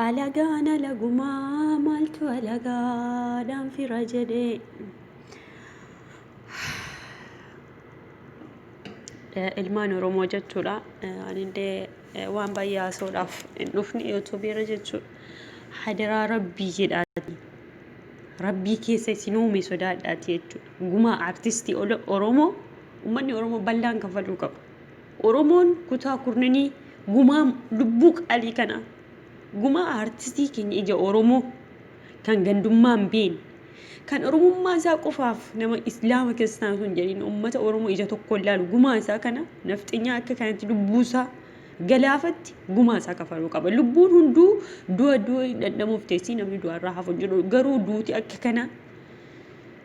Alagaan alagumaa maaltu alagaadhaan fira jedhee. Ilmaan Oromoo jechuudha. Anillee waan baay'ee haasa'uudhaaf hin dhufne youtube irra jechuudha. Hadaraa rabbii jedhaati. Rabbii keessa isin uume sodaadhaati jechuudha. Gumaa artistii Oromoo uummanni Oromoo bal'aan kaffaluu qaba. Oromoon kutaa kurnanii gumaa lubbuu qaalii kana gumaa artistii keenya ija Oromoo kan gandummaan beekne Kan oromummaa isaa qofaaf nama islaama kiristaana sun jedhin ummata oromoo ija tokkoon laalu gumaa isaa kana nafxinyaa akka kanatti lubbuu isaa galaafatti gumaa isaa kafaluu qaba. Lubbuun hunduu du'a du'a dhandhamuuf teessii namni du'arraa hafu jedhu garuu duuti akka kana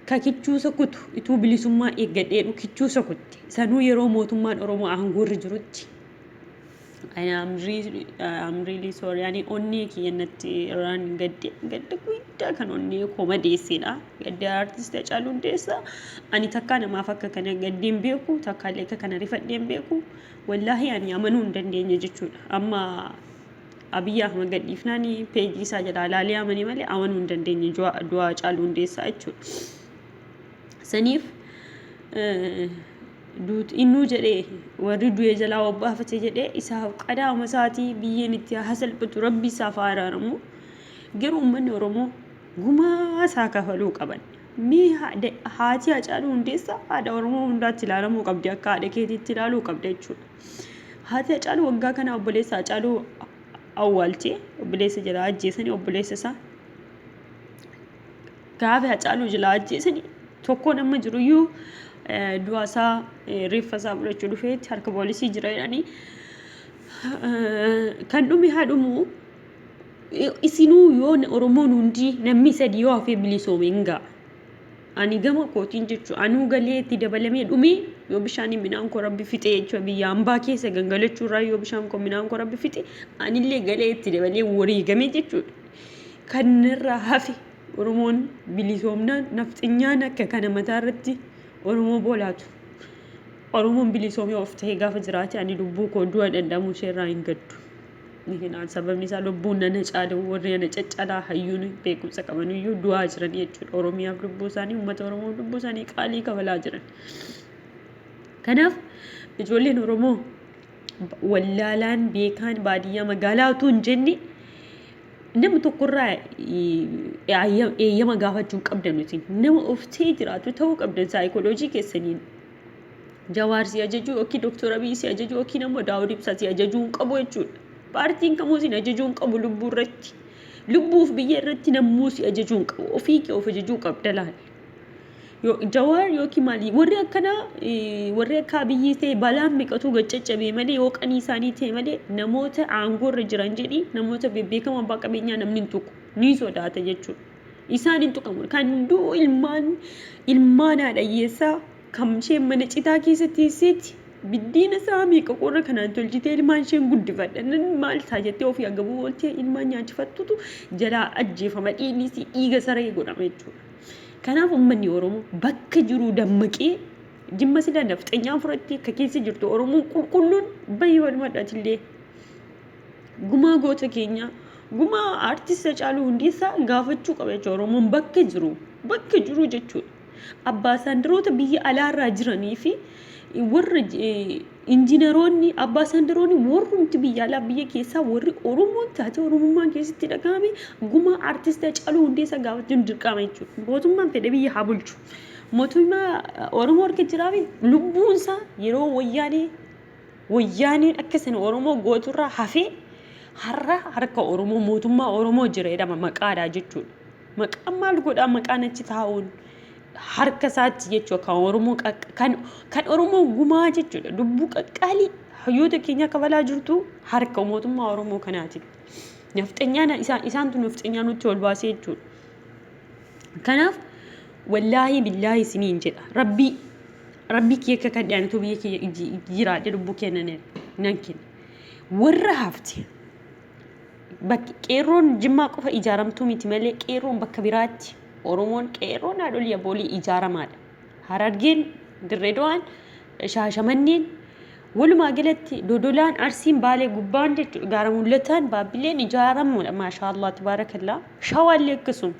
ka kichuusa kutu ituu bilisummaa eeggadheedhu kichuusa kutte sanuu yeroo mootummaan oromoo aangoorra jirutti I am really, I am really sorry. Ani onnee kiyya natti irraan gadde gadda guddaa kan onnee koo madeessedha. Gadda artist Hacaaluu Hundeessaa. Ani takkaa namaaf akka kana gaddee hin beeku, takkaa illee akka kana rifadhee hin beeku. Wallaahi ani amanuu hin dandeenye jechuudha. Amma Abiyyi Ahmad gadhiifnaan peejii isaa jalaa ilaalee amane malee amanuu hin dandeenye du'a du'a Hacaaluu Hundeessaa jechuudha. Saniif eh, duuti innuu jedhee warri du'e jalaa obbaafate jedhee isaaf qadaama isaatii biyyeen itti haa salphatu rabbi isaaf haa araaramu garuu uummanni oromoo gumaa isaa kafaluu qaban mee haadha- haatii hacaaluu hundeessaa haadha oromoo hundaatti ilaalamuu qabdi akka haadha keetiitti ilaaluu qabda jechuudha haati hacaaluu waggaa kana obboleessa hacaaluu awwaaltee obboleessa jalaa ajjeesanii obboleessa isaa Gaafa Hacaaluu jilaa ajjeesani tokkoon amma jiruyyuu du'asaa reeffasaa fudhachuu dhufeetti harka poolisii jira jedhanii kan dhume haa dhumu isinuu yoo Oromoon hundi namni sadii yoo hafee bilisoome hin ga'a. Ani gama kootiin jechuudha. Anuu galee itti dabalamee dhumee yoo bishaaniin midhaan koo rabbi fixee jechuudha. Biyya hambaa keessa gangalachuu irraa yoo bishaan koo midhaan koo rabbi fixe anillee galee itti dabalee wareegamee jechuudha. Kan narraa hafe Oromoon bilisoomnaan nafxenyaan akka kana mataa irratti Oromoo boolaatu. Oromoon bilisoomee of ta'ee gaafa jiraate ani lubbuu koo du'a dhandhamuu ishee irraa hin gaddu. Ni hinaan sababni isaa lubbuun nana caala warri ana caccalaa hayyuun beekumsa qaban iyyuu du'aa jiran jechuudha. Oromiyaaf lubbuu isaanii uummata Oromoof lubbuu isaanii qaalii kabalaa jiran. Kanaaf ijoolleen Oromoo wallaalaan beekaan baadiyyaa magaalaa utuu hin jenne Nama tokkorraa eeyyama gaafachuu hin qabdan isin. Nama of ta'ee jiraatu ta'uu qabdan saayikooloojii keessaniin. Jawaar si ajajuu yookiin Dooktor Abiy si ajajuu yookiin ammoo Daawud Ibsaa si ajajuu hin qabu jechuudha. Paartiin kamuu isin ajajuu hin qabu lubbuu irratti. Lubbuuf biyya irratti namuu si ajajuu hin qabu. Ofii kee of ajajuu qabda laal. Jawaar yookiin maali warri akkana warri akka abiyyii ta'e balaan meeqatu gad caccabee malee yoo qanii isaanii ta'e malee namoota aangoo irra jiran jedhi namoota bebbeekamoo abbaa qabeenyaa namni hin tuqu ni sodaata jechuudha. Isaan hin tuqamu kan du'u ilmaan ilmaan haadha hiyyeessaa kan isheen mana citaa keessa teesseetti biddiina isaa meeqa qorra kanaan tolchitee ilmaan isheen guddifadha nan maal ta'a jettee ofii agabuu ooltee ilmaan nyaachifattutu jalaa ajjeefama dhiigni isii dhiiga saree godhama jechuudha. Kanaaf ummanni Oromoo bakka jiruu dammaqee jimma sila nafxenyaa furattee ka keessa jirtu Oromoon qulqulluun bahi walumadha atillee gumaa goota keenyaa gumaa aartist Hacaaluu Hundeessaa gaafachuu qaba jechuudha Oromoon bakka jiru bakka jiru jechuudha abbaa saandaroota biyya alaarraa jiranii fi Warra injiinaroonni, abbaasaandaroonni warrumti biyya alaa biyya keessaa warri Oromoon taatee Oromummaan keessatti dhagahame gumaa artist Hacaaluu Hundeessaa gaafachuun dirqama jechuudha. Mootummaan fedhe biyya haa bulchu. Mootummaa Oromoo harka jiraa fi lubbuun isaa yeroo wayyaanee wayyaaneen akka sana Oromoo gooturraa hafee har'a harka Oromoo mootummaa Oromoo jira jedhama maqaadhaa jechuudha. Maqaan maal godhaa maqaan achi taa'uun harka isaatti jechuudha kan Oromoo kan kan Oromoo gumaa jechuudha lubbuu qaqqaalii hayyoota keenya kabalaa jirtu harka mootummaa Oromoo kanaati. Nafxanyaan isaan isaantu nafxanyaa nutti ol baasee jechuudha. Kanaaf wallaahi billaahi isiniin jedha rabbii rabbii kiyya akka kan dhiyaanitu biyya kiyya jiraadhe lubbuu kenna nan kenna. Warra hafte Bakki qeerroon Jimmaa qofa ijaaramtuu miti malee qeerroon bakka biraatti Oromoon qeerroon haadholii abboolii ijaaramaadha. Harargeen, Dirreedawaan, Shaashamanneen walumaa galatti Dodolaan, Arsiin, Baalee gubbaan jechuudha. Gaara Mul'ataan, Baabbileen ijaaramuudha. Maashaallah tabaarakallaa. Shawaallee akkasuma.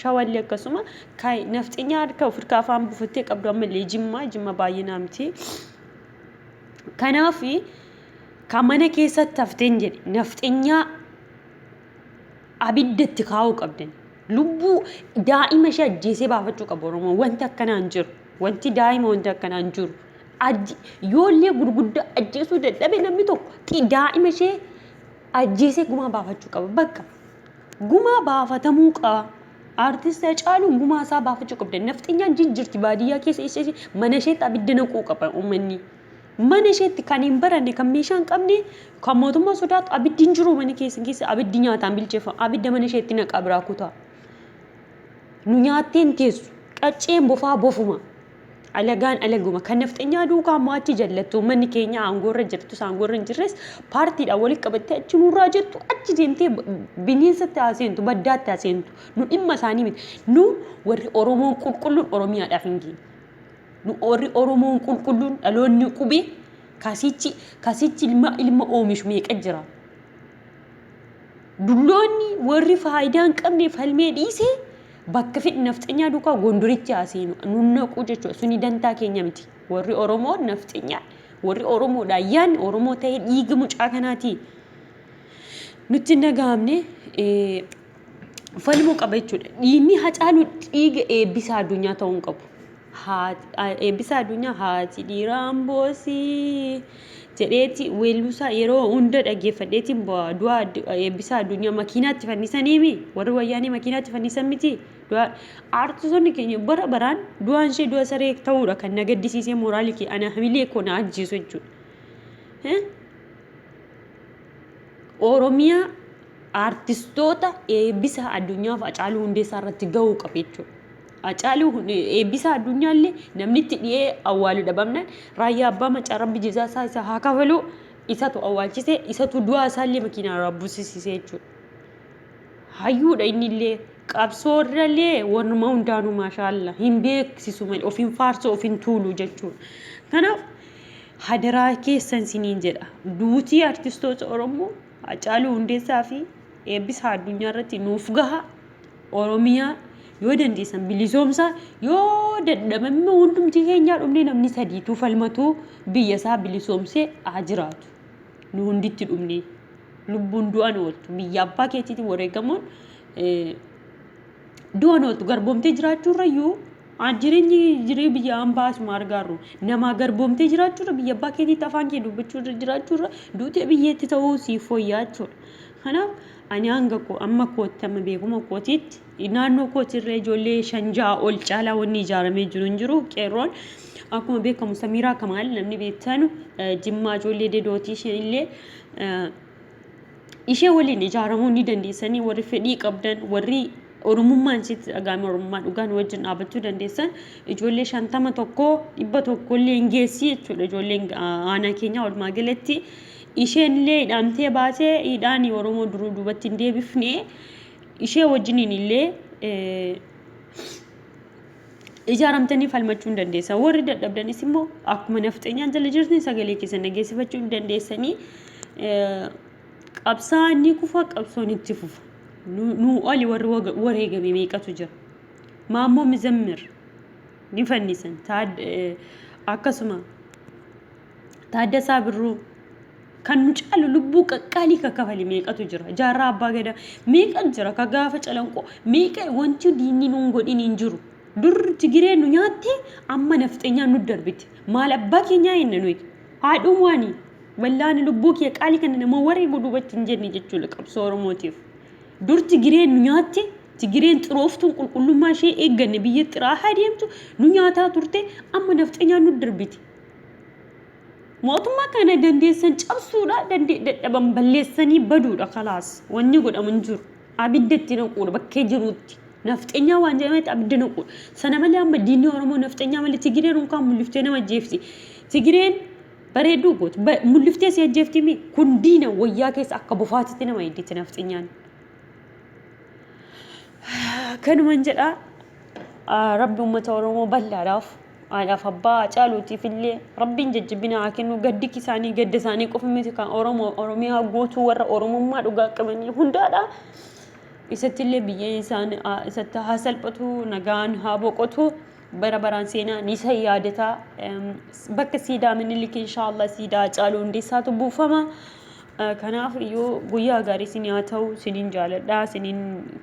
Shawaallee akkasuma. Kaay nafxinyaa harka of hirkaa afaan buufattee qabdu ammallee Jimmaa. Jimma baay'inaa miti. Kanaafi Ka mana keessatti hafteen jedhe nafxenyaa abidda itti kaa'uu qabdan. Lubbuu daa'ima ishee ajjeesee baafachuu qabu Oromoon. Wanti akkanaa hin jiru. Wanti daa'ima wanti akkanaa hin jiru. Ajje- Yoollee gurguddaa ajjeesuu dadhabe namni tokko xi- daa'ima ishee ajjeesee gumaa baafachuu qaba. Bakka gumaa baafatamuu qaba. Artist Hacaaluu gumaa isaa baafachuu qabdan. Nafxenyaan jijjirti baadiyyaa keessa ishee mana isheetti abidda naquu qaba uummanni. Mana isheetti kan hin baranne, kan meeshaa hin qabne, kan mootummaa sodaatu abiddi hin jiru mana keessan keessa abiddi nyaataan bilcheeffama. Abidda mana isheetti naqaa biraa kutaa. Nu nyaattee hin teessu. Qacceen bofaa bofuma. Alagaan alaguma. Kan nafxenyaa duukaa immoo achi jallattu. Uummanni keenya aangoorra jirtus aangoorra hin jirres paartiidhaan walitti qabattee achi nurraa jettu achi deemtee bineensatti haa seentu baddaatti haa seentu. Nu dhimma isaanii miti. Nu warri Oromoon qulqulluun Oromiyaadhaaf hin geenye. Nu warri Oromoon qulqulluun dhaloonni qubee kasichi kasichi ilma ilma oomishu meeqa jira. Dulloonni warri faayidaa hin qabne falmee dhiise bakka fedhi nafxanyaa duukaa gondorichi haa seenu nu naqu jechuudha. Suni dantaa keenya miti. Warri Oromoo nafxanyaa warri Oromoodha yaan Oromoo ta'ee dhiiga mucaa kanaatii nutti hin dhagahamne. falmuu qaba jechuudha. Dhiigni Hacaaluu dhiiga eebbisaa addunyaa ta'uu hin qabu. Eebbisaa addunyaa haati dhiiraa amboosii jedheeti weelluusaa yeroo hunda dhaggeeffadheetiin bu'a. Du'a eebbisaa addunyaa makiinaatti fannisaniimi warri wayyaanee makiinaatti fannisan miti. Aartisoonni keenya bara baraan du'aan ishee du'a saree ta'uudha kan na gaddisiisee mooraalii kee ana hamilee koo na ajjeesu jechuudha. Oromiyaa aartistoota eebbisa addunyaaf Hacaaluu Hundeessaa irratti gahuu qaba jechuudha. Hacaaluu Hun- eebbisa addunyaa illee namni itti dhiyee awwaalu dhabamnaan raayyaa abbaa macaa rabbi jezaa isaa isa haa kafaluu isatu awwaalchise isatu du'aa isaa illee makiinaa irraa buusisise jechuudha. Hayyuudha inni illee qabsoo irra illee warruma hundaanuu maashaalla hin beeksisu malee of hin faarsu of hin tuulu jechuudha. Kanaaf hadaraa keessan siniin jedha. Duutii artistoota Oromoo Hacaaluu Hundeessaa fi Eebbisaa Addunyaa irratti nuuf gaha. Oromiyaa yoo dandeessan bilisoomsaa yoo dadhabamne hundumti keenyaa dhumnee namni sadiituu falmatuu biyya isaa bilisoomsee haa jiraatu. Nu hunditti dhumnee lubbuun du'an ooltu biyya abbaa keetiitiin wareegamuun du'an ooltu garboomtee jiraachuurrayyuu Jireenyi jiree biyya ambaa asuma argaarru namaa garboomtee jiraachuurra biyya abbaa keetiitti afaan kee dubbachuurra jiraachuurra duutee biyyeetti ta'uu siif fooyyaa jechuudha. Kanaaf ani hanga koo amma kootti amma beekuma kootiitti naannoo kootirra ijoollee shan ja'a ol caalaa wanni ijaaramee jiru hin jiru qeerroon akkuma beekamu samiiraa kamaal namni beektanu jimmaa ijoollee dedooti isheen illee Ishee waliin ijaaramuu ni dandeessanii warri fedhii qabdan warri oromummaan isheetti dhagaame oromummaa dhugaa nu wajjin dhaabachuu dandeessan ijoollee shantama tokko dhibba tokko illee hin geessi jechuudha ijoolleen aanaa keenyaa walumaa galatti isheen illee hidhaamtee baatee hidhaan oromoo duruu duubatti hin deebifne ishee wajjiniin illee ijaaramtanii falmachuu ni dandeessan. Warri dadhabdanis immoo akkuma nafxeenyaan jala jirtanii sagalee keessan dhageessifachuu ni dandeessanii. Qabsaa ni kufa, qabsoon itti fufa. Nu- Nuu oli warri waga- wareegame meeqatu jira. Maammoo Mizammir ni fannisan. Taad- eh, Akkasuma Taaddasaa Birruu kan nu caalu lubbuu qaqqaalii ka kafale meeqatu jira jaarraa abbaa gadaa meeqa jira ka gaafa calanqoo meeqa wanti diinni nuun godhin hin jiru dur tigiree nu nyaatte amma nafxeenyaa nu darbite maal abbaa keenyaa eenna nuyi haadhuun waani wallaani lubbuu kiyya qaalii kana nama wareegu duubatti hin jenne jechuudha qabsoo oromootiif dur tigiree nu nyaatte tigireen xirooftuun qulqullummaa ishee eegganne biyya xiraa haa deemtu nu nyaataa turte amma nafxeenyaa nu darbite Mootummaa kana dandeessan cabsuudha, dadhaban balleessanii baduudha kalaas. Wanni godhamu hin jiru. Abidda itti naquudha bakkee jiruutti. Nafxenyaa waan jedhametti abidda naquudha. Sana malee amma diinni Oromoo nafxenyaa malee Tigireen unkaan mulliftee nama ajjeefti. Tigireen bareedduu gooti. Mulliftee si ajjeefti mi? Kun diina wayyaa keessa akka bofaatitti nama eedditi nafxenyaan. Kanuman jedha rabbi uummata Oromoo bal'aadhaaf Haadhaaf abbaa Hacaaluutiif illee Rabbiin jajjabina haa kennu. Gaddi isaanii gadda isaanii qofa miti kan Oromoo Oromiyaa guutuu warra Oromummaa dhugaa qabanii hundaadha. Isatti illee biyyeen isaan isatti haa salphatu nagaan haa boqotu. Bara baraan seenaa ni isa yaadata. Bakka siidaa minilik inshaallah siidaa Hacaaluu hundeessaatu buufama. Kanaaf iyyuu guyyaa gaarii isin haa ta'u isinin jaaladha isinin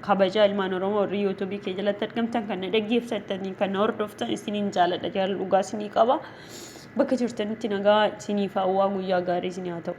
kabaja ilmaan oromoo warri yuutuubii kee jalatti argamtan kan na dhaggeeffattanii kan na hordoftan isinin jaaladha jaalala dhugaa isinii qaba bakka jirtanitti nagaa isiniif hawwaa guyyaa gaarii isin haa ta'u.